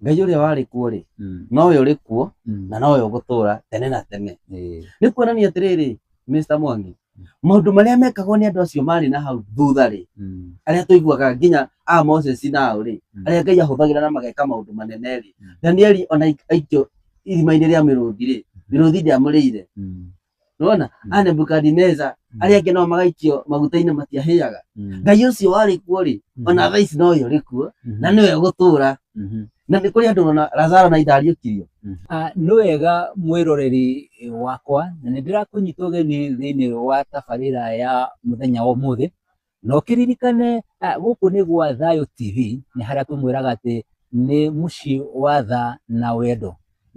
ngai ũrĩa warĩ kuo-rĩ Mm. nowe ũrĩ kuo Mm. na nowe ũgũtũũra tene na tene Eh. nĩ kuonania atĩrĩrĩ Mr. Mwangi maũndũ marĩa mekagwo nĩ andũ acio marĩ na hau thutha-rĩ Mm. arĩa tũiguaga nginya a Moses nao-rĩ Mm. arĩa Ngai ahũthagĩra na mageka maũndũ manene-rĩ Mm. Danieli ona aik- aikio irima-inĩ rĩa mĩrũthi-rĩ mĩrũthi ndĩamũrĩire Mm. nona Mm. a nebukadineza Mm. arĩa angĩ nao magaikio maguta-inĩ matiahĩaga Mm. ngai ũcio warĩ kuo rĩ Mhm. ona thaa ici no ũyũ ũrĩ kuo Mhm. na nĩwe ũgũtũũra Mhm. na nĩ kũrĩ andũ ona lazaro na itariũkirio Ah, nĩ wega mwĩroreri wakwa na nĩ ndĩrakũnyita ũgeni thĩinĩ wa tabarĩra ya mũthenya wa ũmũthĩ Na ũkĩririkane ah, gũkũ nĩ gwa Thayũ TV, nĩ harĩa tũmwĩraga atĩ nĩ mũciĩ wa tha na wendo.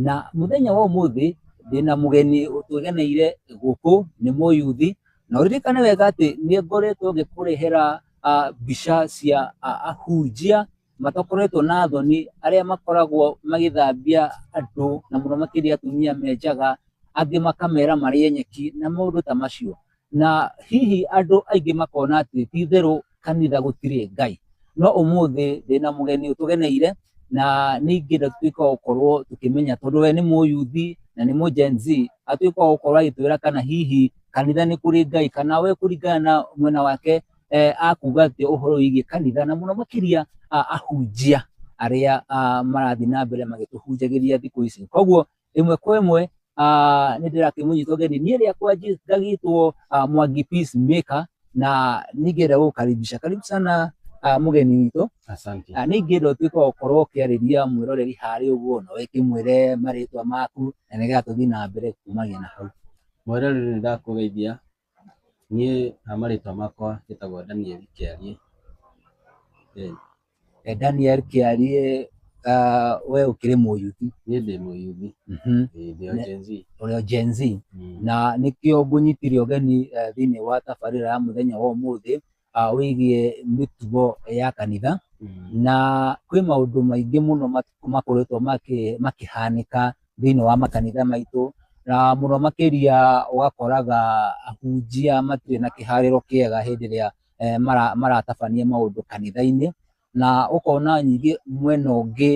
Na mũthenya wa ũmũthĩ ndĩna mũgeni ũtũgeneire gũkũ, nĩ mũyuthi, na ũririkane wega atĩ nĩ ngoretwo ngĩkũrehera ah, mbica cia ah, ahunjia matakoretwo na thoni arĩa makoragwo magĩthambia andũ na mũno makĩria atumia me njaga, angĩ makamera marĩe nyeki na maũndũ ta macio. na hihi andũ aingĩ makona atĩ ti itherũ kanitha gũtirĩ Ngai. No ũmũthĩ ndĩna mũgeni ũtũgeneire na nĩ ingĩenda tutuĩke wa gũkorwo tũkĩmenya tondũ we nĩ mũyuthi na nĩ mũgen z atuĩke wa gũkorwo agĩtwĩra kana hihi kanitha nĩ kũrĩ Ngai kana we kũringana na mwena wake eh, akuga atĩ ũhoro wĩgiĩ kanitha na mũno makĩria ah, ahunjia arĩa ah, marathiĩ na mbere magĩtũhunjagĩria thikũ ici. Koguo ĩmwe kwa ĩmwe ah, nĩ ndĩrakĩmũnyitwo geni niĩ rĩakwa njĩ- ngagĩtwo ah, mwangi peace maker na ningĩenda gũkaribisha karibu sana ah, mũgeni witũ Asante. Ah, nĩ ingĩenda ũtuĩke wa gũkorwo ũkĩarĩria mwĩroreri harĩ ũguo na wĩkĩmwĩre marĩtwa maku na nĩgetha tũthiĩ na mbere kumagia na hau Mweroreri nĩ ndakũgeithia Niĩ marĩtwa makwa njĩtagwo Daniel Kĩariĩ. Daniel Kĩariĩ, we ũkĩrĩ mũyuthi? Niĩ ndĩ mũyuthi, ndĩ o Gen Z. Ũrĩ o Gen Z, na nĩkĩo ngũnyitire ũgeni thĩiniĩ wa tabarĩra ya mũthenya wa ũmũthĩ. wĩgiĩ mĩtugo ya kanitha na kwĩ maũndũ maingĩ mũno makoretwo makĩhanĩka thĩinĩ wa makanitha maitũ na mũno makĩria ũgakoraga ahunjia matirĩ na kĩharĩro kĩega hĩndĩ ĩrĩa maratabania maũndũ kanitha-inĩ na ũkona nyingĩ mwena ũngĩ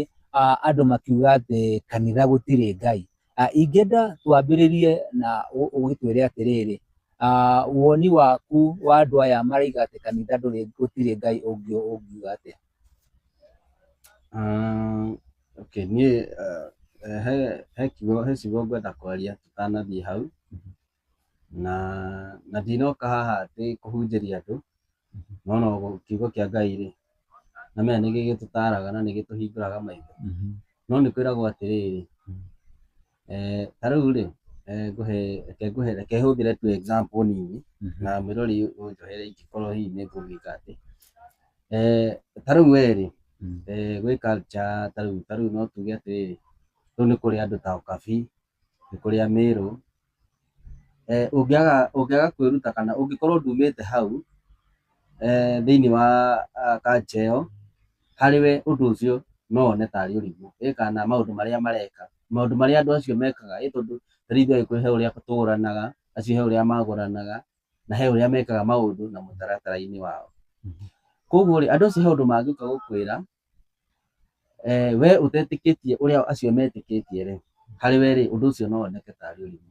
andũ makiuga atĩ kanitha gũtirĩ Ngai. Ingĩenda twambĩrĩrie na ũgĩtwĩre atĩrĩrĩ, woni waku wa andũ aya maroiga atĩ kanitha ndũrĩ gũtirĩ Ngai ũngiuga atĩa? Okay, niĩ he kiugo he ciugo ngwenda kwaria tũtanathiĩ hau, na na ndinoka haha atĩ kũhunjĩria andũ, no no kiugo kĩa Ngai-rĩ, na mena nĩ gĩgĩtũtaraga na nĩ gĩtũhingũraga maitho. No nĩ kwĩragwo atĩrĩrĩ, ta rĩu-rĩ, ngũhe, reke ngũhe, reke hũthĩre tu example nini, na mwĩrori ũnjohere ingĩkorwo hihi nĩ ngũgĩka atĩ. Ta rĩu we-rĩ, gwĩ culture ta rĩu, ta rĩu no tuge atĩrĩrĩ, rĩu nĩ kũrĩ andũ ta ũkabi, nĩ kũrĩ a mĩrũ, ũngĩaga kwĩruta kana ũngĩkorwo ndũmĩte hau thĩinĩ wa culture ĩyo, harĩ we ũndũ ũcio no wone ta arĩ ũrimũ, ĩ kana maũndũ marĩa mareka, maũndũ marĩa andũ acio mekaga, ĩ tondũ ta rĩu ithuĩ Agĩkũyũ he ũrĩa tũgũranaga, acio he ũrĩa magũranaga, na he ũrĩa mekaga maũndũ na mũtaratara-inĩ wao. Koguo rĩ, andũ acio he ũndũ mangĩũka gũkwĩra Wee ũtetĩkĩtie ũrĩa acio metĩkĩtie-rĩ, harĩ we-rĩ, ũndũ ũcio no woneke tarĩ ũrimũ.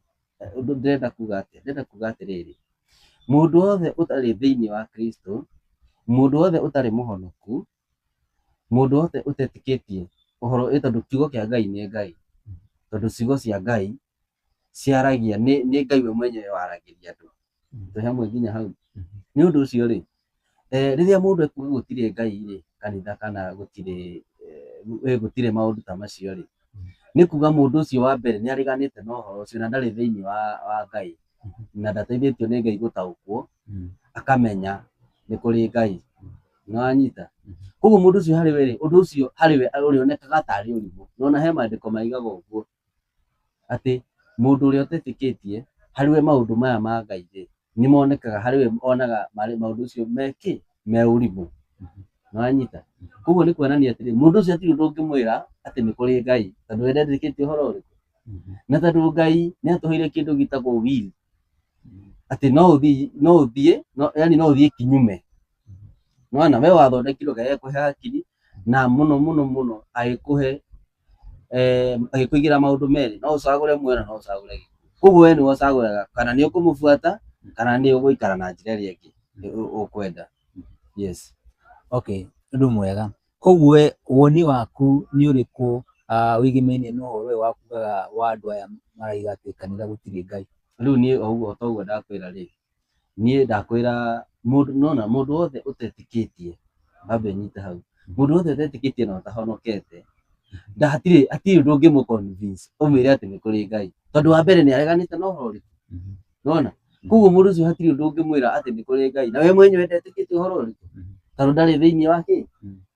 Ndĩrenda kuga atĩa? Ndĩrenda kuga atĩrĩrĩ, mũndũ wothe ũtarĩ thĩiniĩ wa Kristũ, mũndũ wothe ũtarĩ mũhonoku, mũndũ wothe ũtetĩkĩtie ũhoro, ĩ tondũ kiugo kĩa Ngai nĩ Ngai, tondũ ciugo cia Ngai ciaragia nĩ nĩ ngai we mwenyewe waragĩria andũ tũhe hamwe nginya hau nĩ ũndũ ũcio rĩ eh, rĩrĩa mũndũ ekuga gũtirĩ ngai rĩ kanitha kana gũtirĩ eh, gũtirĩ maũndũ ta macio rĩ nĩ kuga mũndũ ũcio wa mbere nĩ areganĩte na ũhoro ũcio na ndarĩ thĩinĩ wa, wa ngai na ndateithĩtio nĩ ngai gũtaũkwo akamenya nĩ kũrĩ ngai na wanyita koguo mũndũ ũcio harĩ we rĩ ũndũ ũcio harĩ we ũrĩonekaga tarĩ ũrimũ nona he maandĩko maigaga ũguo atĩ mũndũ ũrĩa ũtetĩkĩtie harĩ we maũndũ maya ma Ngai rĩ, nĩ monekaga harĩ we onaga maũndũ ũcio me kĩ? Me ũrimũ. Nĩ wanyita? Kwoguo nĩ kuonania atĩrĩ, mũndũ ũcio hatirĩ ũndũ ũngĩmwĩra atĩ nĩ kũrĩ Ngai tondũ we ndetĩkĩtie ũhoro ũrĩkũ? Na tondũ Ngai nĩ atũheire kĩndũ gĩtagwo will, atĩ no ũthiĩ, no ũthiĩ, yaani no ũthiĩ kinyume. Nĩ wona? We wathondekirwo Ngai agĩkũhe hakiri na mũno mũno mũno agĩkũhe eh, agĩkũigĩra maũndũ merĩ no ũcagũre muoyo na no ũcagũre gĩkuũ koguo we nĩwe ũcagũraga kana nĩ ũkũmũbuata kana nĩ ũgũikara na njĩra ĩrĩa ĩngĩ ĩ- ũ- ũkwenda yes okay ũndũ mwega koguo we woni waku nĩ ũrĩkũ ah, wĩgĩmainie na ũhoro ũyũ wakugaga wa andũ aya maraiga atĩ kanitha gũtirĩ ngai rĩu niĩ o ũguo ta ũguo ndakwĩra rĩ niĩ ndakwĩra mũndũ nĩwona mũndũ wothe ũtetĩkĩtie baba ĩnyite hau, mũndũ wothe ũtetĩkĩtie na ũtahonokete hatirĩ hatirĩ ũndũ ũngĩmũ convince ũmwĩre atĩ nĩ kũrĩ Ngai, tondũ wa mbere nĩ areganĩte na ũhoro ũrĩkũ? Nĩwona? Koguo mũndũ ũcio hatirĩ ũndũ ũngĩmwĩra atĩ nĩ kũrĩ Ngai, na we mwenyewe ndetĩkĩtie ũhoro ũrĩkũ? Tondũ ndarĩ thĩiniĩ wa kĩ?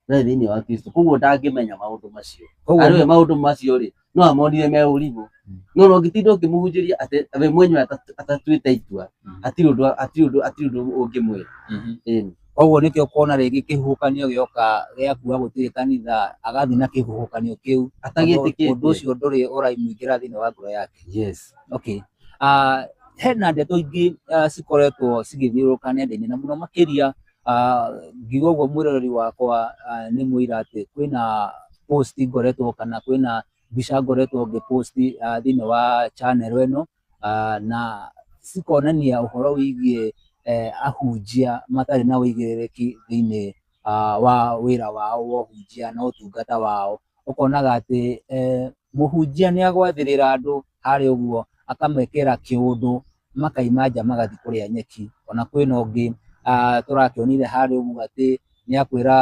Ndarĩ thĩiniĩ wa Kristo, koguo ndangĩmenya maũndũ macio. Koguo Arĩ we maũndũ macio-rĩ, no amonire me ũrimũ Mm. no no ngĩtinda ũkĩmũhunjĩria atĩ we mwenyewe ata- atatuĩte itua Mm. hatirĩ ũndũ hatirĩ ũndũ hatirĩ ũndũ ũngĩmwĩra Mhm. Ĩĩ. koguo nĩkĩo kuona rĩngĩ kĩhuhũkanio gĩoka gĩa kuga gũtirĩ kanitha agathiĩ na kĩhuhũkanio kĩu Tondũ ũndũ atagĩtĩkĩtie ũcio ndũrĩ ũraimũingĩra thĩinĩ wa ngoro yake yes okay Ah, hena ndeto ingĩ ah, cikoretwo cigĩthiũrũrũka nenda-inĩ na mũno makĩria Ah, ngiuga ũguo mwĩroreri wakwa ah, nĩ mũira atĩ kwĩna post ngoretwo kana kwĩna mbica ngoretwo ngĩ post ah, thĩinĩ wa channel ĩno ah, na cikonania ũhoro wĩgiĩ eh, ahunjia matarĩ na ũigĩrĩrĩki thĩinĩ ah, wa wĩra wao wa ũhunjia na ũtungata wao ũkonaga atĩ mũhunjia nĩ agwathĩrĩra andũ harĩa ũguo, akamekĩra kĩũndũ makauma nja magathiĩ kũrĩa nyeki. Ona kwĩna ũngĩ tũrakĩonire harĩa ũguo atĩ nĩ akwĩra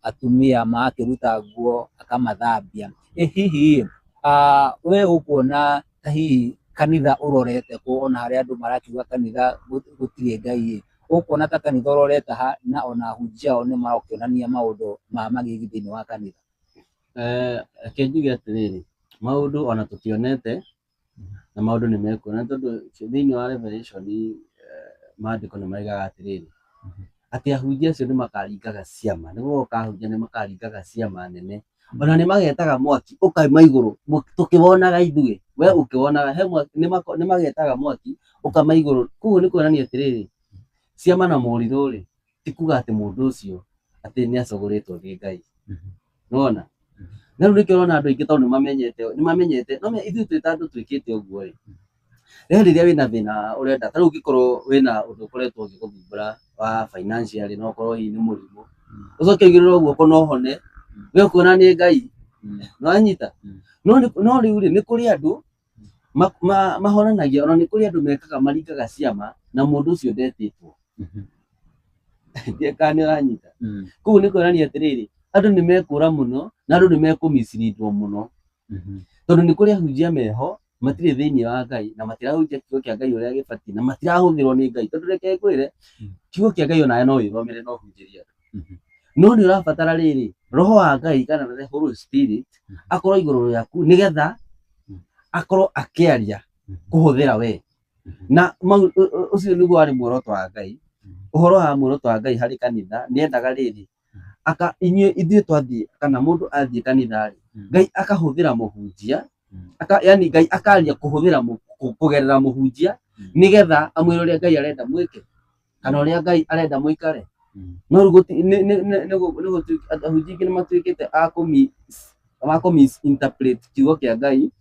atumia magakĩruta nguo akamathambia. Ĩ hihi ĩ we ũkuona ta hihi kanitha ũrorete kũ ona harĩa andũ marakiuga kanitha gũtirĩ Ngai ĩ? Ũkuona ta kanitha ũroretaha na ona ahunjia ao nĩ marakĩonania maũndũ ma magigi thĩinĩ wa kanitha? Eh, reke njuge atĩrĩrĩ, maũndũ ona tũkĩonete na maũndũ nĩ mekuo, na tondũ thĩinĩ wa Revelation eh, maandĩko nĩ maigaga atĩrĩrĩ, atĩ ahunjia acio nĩ makaringaga ciama, nĩ gũgoka ahunjia nĩ makaringaga ciama nene ona nĩ magetaga mwaki ũkaima igũrũ mũ- tũkĩwonaga ithuĩ we ũkĩwonaga he mwaki nĩ mako- nĩ magetaga mwaki ũkama igũrũ koguo nĩ kuonania atĩrĩrĩ ciama na morirũ rĩ ti kuga atĩ mũndũ ũcio atĩ nĩ acagũrĩtwo nĩ ngai nĩwona na rĩu nĩkĩo ũrona andũ aingĩ tondũ nĩ mamenyete nĩ mamenyete no me- ithuĩ twĩ ta andũ twĩkĩte ũguo rĩ Rĩrĩ rĩrĩa wĩna thĩna ũrenda, ta rĩu ũngĩkorwo wĩna ũndũ ũkoretwo ũgĩgũthumbũra wa financially no ũkorwo hihi nĩ mũrimũ, ũcoke ũigĩrĩrwo guoko na ũhone, we ũkona nĩ Ngai. Nĩ wanyita? No no rĩurĩ, nĩ kũrĩ andũ mahonanagia ona nĩ kũrĩ andũ mekaga maringaga ciama na mũndũ ũcio ndetĩtwo. Ndiũĩ kana nĩ ũranyita? Kũguo nĩ kuonania atĩrĩrĩ, andũ nĩ mekũũra mũno, na andũ nĩ mekũ mislead wo mũno. Mhm. tondũ nĩ kũrĩ ahunjia meho matirĩ thĩinĩ wa ngai na matirahunjia kiugo kĩa ngai ũrĩa gĩbatiĩ na matirahũthĩrwo nĩ ngai tondũ reke ngwĩre Mm. kiugo kĩa ngai onawe no wĩthomere no ũhunjĩrie andũ Mhm. no nĩ ũrabatara rĩrĩ roho wa ngai kana the holy spirit Mhm. akorwo igũrũ rĩaku nĩgetha Mm. akorwo akĩaria Mhm. kũhũthĩra we Mhm. na mau- ũ- ũ- ũcio nĩguo warĩ muoroto wa ngai Mhm. ũhoro wa muoroto wa ngai harĩ kanitha nĩendaga rĩrĩ aka inyuĩ ithuĩ twathiĩ kana mũndũ athiĩ kanitha-rĩ Mm. ngai akahũthĩra mũhunjia Mm. aka, yani ngai akaria kũhũthĩra mũ- kũ- kũgerera mũhunjia Mm. nĩgetha amwĩre ũrĩa ngai arenda mwĩke kana ũrĩa ngai arenda mũikare Mm. no rĩu gũti- nĩ- nĩ- nĩ- nĩ gũ- nĩ gũtuĩk- ahunjia aingĩ nĩ matuĩkĩte a kũmi- a kũmisinterpret kiugo kĩa ngai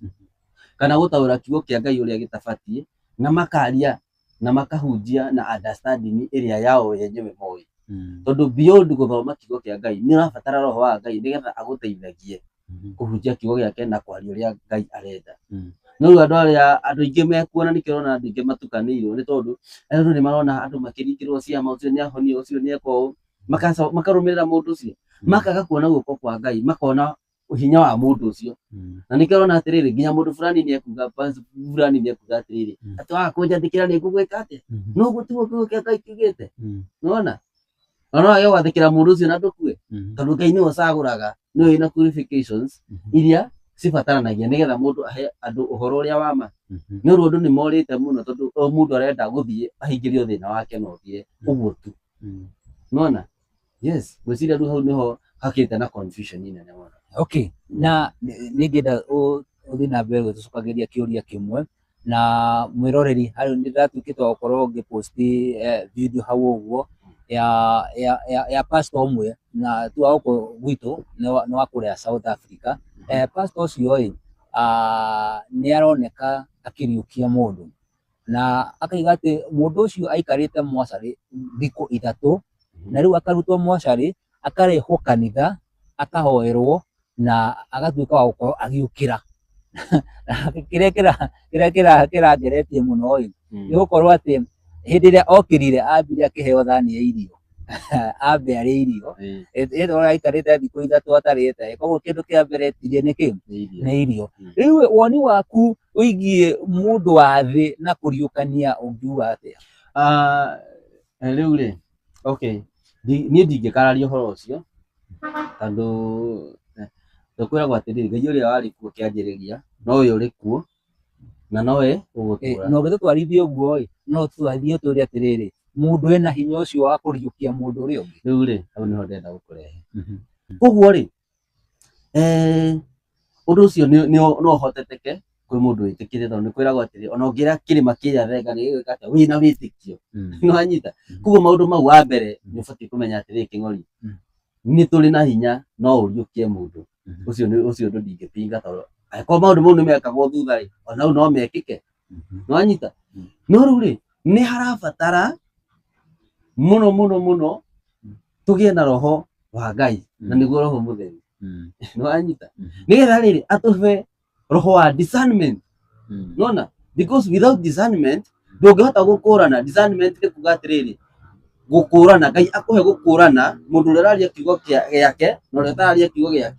kana gũtaũra kiugo kĩa ngai ũrĩa gĩtabatiĩ na makaria na makahunjia na understanding ĩrĩa yao we enyewe moĩ Mm. tondũ beyond gũthoma kiugo kĩa ngai nĩ ũrabatara roho wa ngai nĩgetha agũteithagie Mhm. kũhunjia kiugo gĩake na kwaria ũrĩa ngai arenda Mm. no rĩu andũ arĩa andũ aingĩ mekuona nĩkĩo ũrona andũ aingĩ matukanĩirwo nĩ tondũ andũ nĩ marona andũ makĩringĩrwo ciama ũcio nĩ ahonio ũcio nĩ eka ũũ Makaco- makarũmĩrĩra mũndũ ũcio makaga kuona guoko kwa ngai makona hinya wa mũndũ ũcio Mm. na nĩkĩo ũrona atĩrĩrĩ nginya mũndũ fulani nĩ ekuga basi fulani nĩ ekuga atĩrĩrĩ Mm. atĩ waga kũnjathĩkĩra nĩ ngũgwĩka atĩa Mhm. no gũtigwo kiugo kĩa ngai kiugĩte Mm. nona na no wage gwathĩkĩra mũndũ ũcio na ndũkue Mhm. tondũ ngai nĩwe ũcagũraga nĩwe wĩna qualifications Mhm. iria cibataranagia nĩgetha mũndũ ahe andũ ũhoro ũrĩa wa ma Mhm. nĩ ũrũ andũ nĩ morĩte mũno tondũ o mũndũ arenda gũthiĩ ahingĩrio thĩna wake na ũthiĩ ũguo tu Mm. nona Yes, ngwĩciria rĩu hau nĩho hakĩte na confusion nene mũno. Okay, na nĩ- nĩngĩenda ũ- ũthiĩ na mbere gũtũcokagĩria kĩũria kĩmwe na mwĩroreri harĩ nĩndatuĩkĩte wa gũkorwo ngĩposti eh, video hau ũguo ya ya ya, ya pastor ũmwe na tu wa gũkũ gwitũ nĩ wa- nĩ wa kũrĩa South Africa eh, pastor ũcio ĩ ah, nĩ aroneka akĩriũkia mũndũ Na akaiga atĩ mũndũ ũcio aikarĩte mocarĩ thikũ ithatũ, na rĩu akarutwo mocarĩ, akarehwo kanitha, akahoerwo, na agatuĩka wa gũkorwo agĩũkĩra. Kĩrĩa kĩra- kĩrĩa kĩra- kĩrangeretie mũno-ĩ, nĩ gũkorwo atĩ hĩndĩ ĩrĩa okĩrire ambire akĩheo thani ya irio, ambe arĩe irio, ĩndĩ ũrĩa aikarĩte thikũ ithatũ atarĩte-ĩ, kuoguo kĩndũ kĩa mbere etirie nĩ kĩ? Nĩ irio. Rĩu-ĩ, woni waku Wĩgiĩ mũndũ wa thĩ na kũriũkania ũngiuga atĩa? Ah, rĩu rĩ, okay, ndi- niĩ ndingĩkararia ũhoro ũcio tondũ eh, tũkwĩragwo atĩrĩrĩ ngai ũrĩa warĩ kuo kĩanjĩrĩria nowe ũrĩ kuo na nowe Eh, ũgũtũra na ũngĩtũtwarithia ũguo ĩ no tũtwarithie ũtũre atĩrĩrĩ mũndũ ena hinya ũcio wa kũriũkia mũndũ ũrĩa ũngĩ rĩu rĩ hau nĩho ndĩrenda gũkũrehe koguo rĩ Ũndũ ũcio no ũhotekeke kwĩ mũndũ wĩtĩkĩtie tondũ nĩ kwĩragwo atĩrĩ ona ũngĩra kĩrĩma kĩnyarenga nĩ gĩgwĩka atĩa? Wĩna wĩtĩkio. Nĩ wanyita? Kwoguo maũndũ mau wa mbere nĩ ũbatiĩ kũmenya atĩrĩ kĩng'ori nĩ tũrĩ na hinya no ũriũkie mũndũ. Ũcio ũndũ ndingĩpinga tondũ angĩkorwo maũndũ mau nĩ mekagwo thutha-rĩ, ona rĩu no mekĩke. nĩwanyita no rĩu rĩ nĩ harabatara mũno mũno mũno tũgĩe na roho wa ngai na nĩguo roho mũtheru nĩwanyita nĩgetha rĩrĩ atũhe roho wa discernment nona because without discernment ndũngĩhota gũkũrana discernment nĩ kuga atĩrĩrĩ gũkũrana ngai akũhe gũkũrana mũndũ ũrĩa ũraria kiugo kĩa- gĩake na ũrĩa ũtararia kiugo gĩake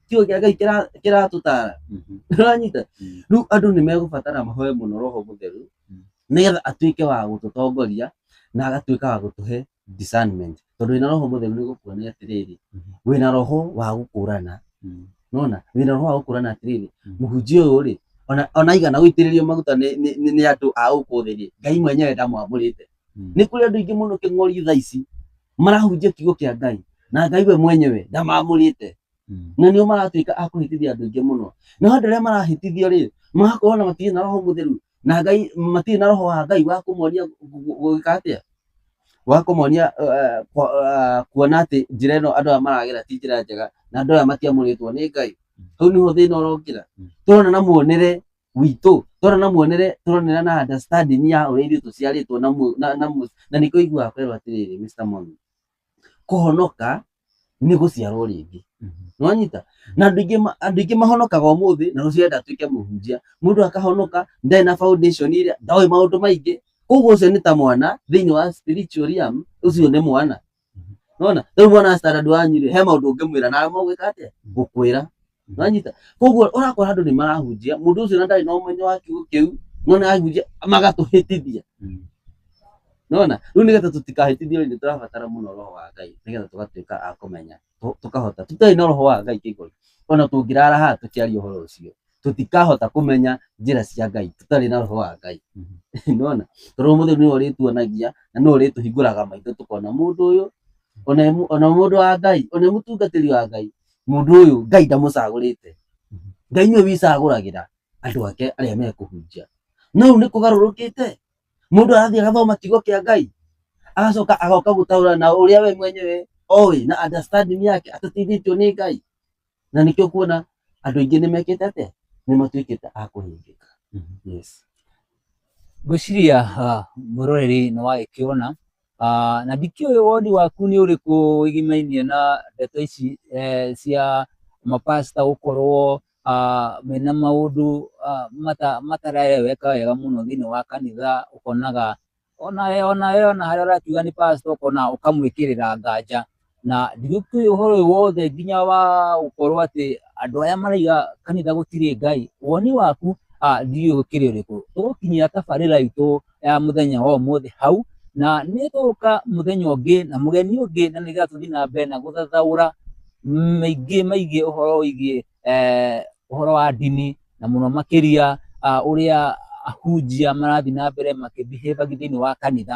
kiugo kĩa ngai kĩra- kĩratũtara Mhm. nĩũranyita Mm. rĩu andũ nĩ megũbatara mahoe mũno roho mũtheru Mm. nĩgetha atuĩke wa gũtũtongoria na agatuĩka wa gũtũhe discernment tondũ wĩna roho mũtheru nĩ gũkuonia atĩrĩrĩ Mhm. wĩna roho wa gũkũrana Mm. nona wĩna roho wa gũkũrana atĩrĩrĩ Mm. mũhunjia ũyũ rĩ ona- ona igana gũitĩrĩrio maguta nĩ- nĩ nĩ- nĩ andũ a gũkũ thĩ rĩ ngai mwenyewe ndamwamũrĩte Mm. nĩ kũrĩ andũ aingĩ mũno kĩng'ori thaa ici marahunjia kiugo kĩa ngai na ngai we mwenyewe ndamamũrĩte Mm. na nĩo maratuĩka a kũhĩtithia andũ aingĩ mũno no andũ arĩa marahĩtithio rĩ magakorwo na matirĩ na roho mũtheru na ngai matirĩ na roho wa ngai wa kũmonia gũgĩka atĩa wa kũmonia eh, kwa- eh, kuona atĩ njĩra ĩno andũ aya maragera ti njĩra njega na andũ aya matiamũrĩtwo nĩ ngai hau nĩho thĩna ũrokĩra Mm. tũrona na muonere witũ tũrona na muonere tũronera na understanding ya ũrĩa ithuĩ tũciarĩtwo na mu- na- na mu- na nĩkĩo iguaga kwerwo atĩrĩrĩ Mr. Mwangi kũhonoka nĩ gũciarwo rĩngĩ nĩwanyita na andũ aingĩ ma- andũ aingĩ mahonokaga ũmũthĩ na rũciũ enda atuĩke mũhunjia mũndũ akahonoka ndarĩ na foundation ĩrĩa ndoĩ maũndũ maingĩ koguo ũcio nĩ ta mwana thĩinĩ wa spiritual realm ũcio nĩ mwana nona rĩu mwana wa standard wanyu rĩ he maũndũ ũngĩmwĩra na aremwo gwĩka atĩa gũkwĩra Nĩwanyita? Koguo ũrakora andũ nĩ marahunjia, mũndũ ũcio na ndarĩ na ũmenyo wa kiugo kĩu, no nĩ arahunjia magatũhĩtithia. Nĩwona? Rĩu nĩgetha tũtikahĩtithio nĩ tũrabatara mũno roho wa Ngai nĩgetha tũgatuĩka a kũmenya tũ- tũkahota. Tũtarĩ na roho wa Ngai kĩngori, ona tũngĩrara haha tũkĩaria ũhoro ũcio, tũtikahota kũmenya njĩra cia Ngai tũtarĩ na roho wa Ngai. Nĩwona? Tondũ Roho Mũtheru nĩwe ũrĩtuonagia na nĩwe ũrĩtũhingũraga maitho tũkona mũndũ ũyũ, ona e mũ- ona mũndũ wa Ngai, ona e mũtungatĩri wa Ngai, Mũndũ ũyũ Ngai ndamũcagũrĩte. Ngai nĩwe wĩcagũragĩra andũ ake arĩa mekũhunjia. No rĩu nĩ kũgarũrũkĩte, mũndũ arathiĩ agathoma kiugo kĩa Ngai, agacoka agoka gũtaũra na ũrĩa we mwenyewe oĩ na understanding yake atateithĩtio nĩ Ngai. Na nĩkĩo kuona andũ aingĩ nĩ mekĩte atĩa? Nĩ matuĩkĩte a kũhĩngĩka. Yes. Ngwĩciria mũroreri nĩ wagĩkĩona Ah, na ndikĩũĩ woni waku nĩ ũrĩkũ wĩgimainie na ndeto ici eh, cia mapasta gũkorwo ah, mena maũndũ ah, mata- matarereweka wega mũno thĩinĩ wa kanitha ũkonaga onawe onawe ona harĩa ũrakiuga nĩ pasta ũkona ũkamwĩkĩrĩra nganja na nditũĩ ũhoro ũyũ wothe nginya wa gũkorwo atĩ andũ arĩa maraiga kanitha gũtirĩ ngai woni waku ah, ndiũĩ ũkĩrĩ ũrĩkũ tũgũkinyia tabarĩra itũ ya mũthenya wa ũmũthĩ hau na nĩ tũgũka mũthenya ũngĩ na mũgeni ũngĩ na nĩgetha tũthiĩ na mbere na gũthathaũra maingĩ maingĩ ũhoro wĩgiĩ eh, ũhoro wa ndini na mũno makĩria ah, ũrĩa ahunjia marathiĩ na mbere makĩbihĩbagia thĩinĩ wa kanitha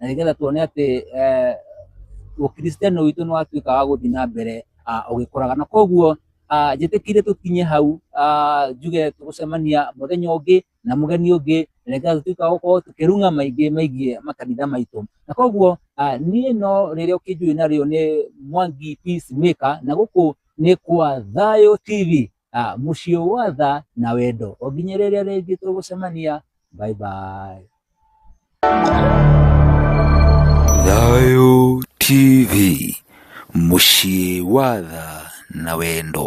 na nĩgetha tuone atĩ eh, ũkristiano witũ nĩ watuĩka wa gũthiĩ na mbere ah, ũgĩkũraga na koguo ah, njĩtĩkire tũkinye hau ah, njuge tũgũcemania mũthenya ũngĩ na mũgeni ũngĩ na nĩgetha tũtuĩka wa gũkorwo tũkĩrung'a maingĩ maigiĩ makanitha maitũ na koguo ah, niĩ no rĩrĩa ũkĩnjũĩ narĩo nĩ mwangi peace maker na gũkũ nĩ kwa thayũ tv Ah, mũciĩ wa tha na wendo o nginya rĩrĩa rĩngĩ tũgũcemania bye bye Thayo TV mũciĩ wa tha na wendo.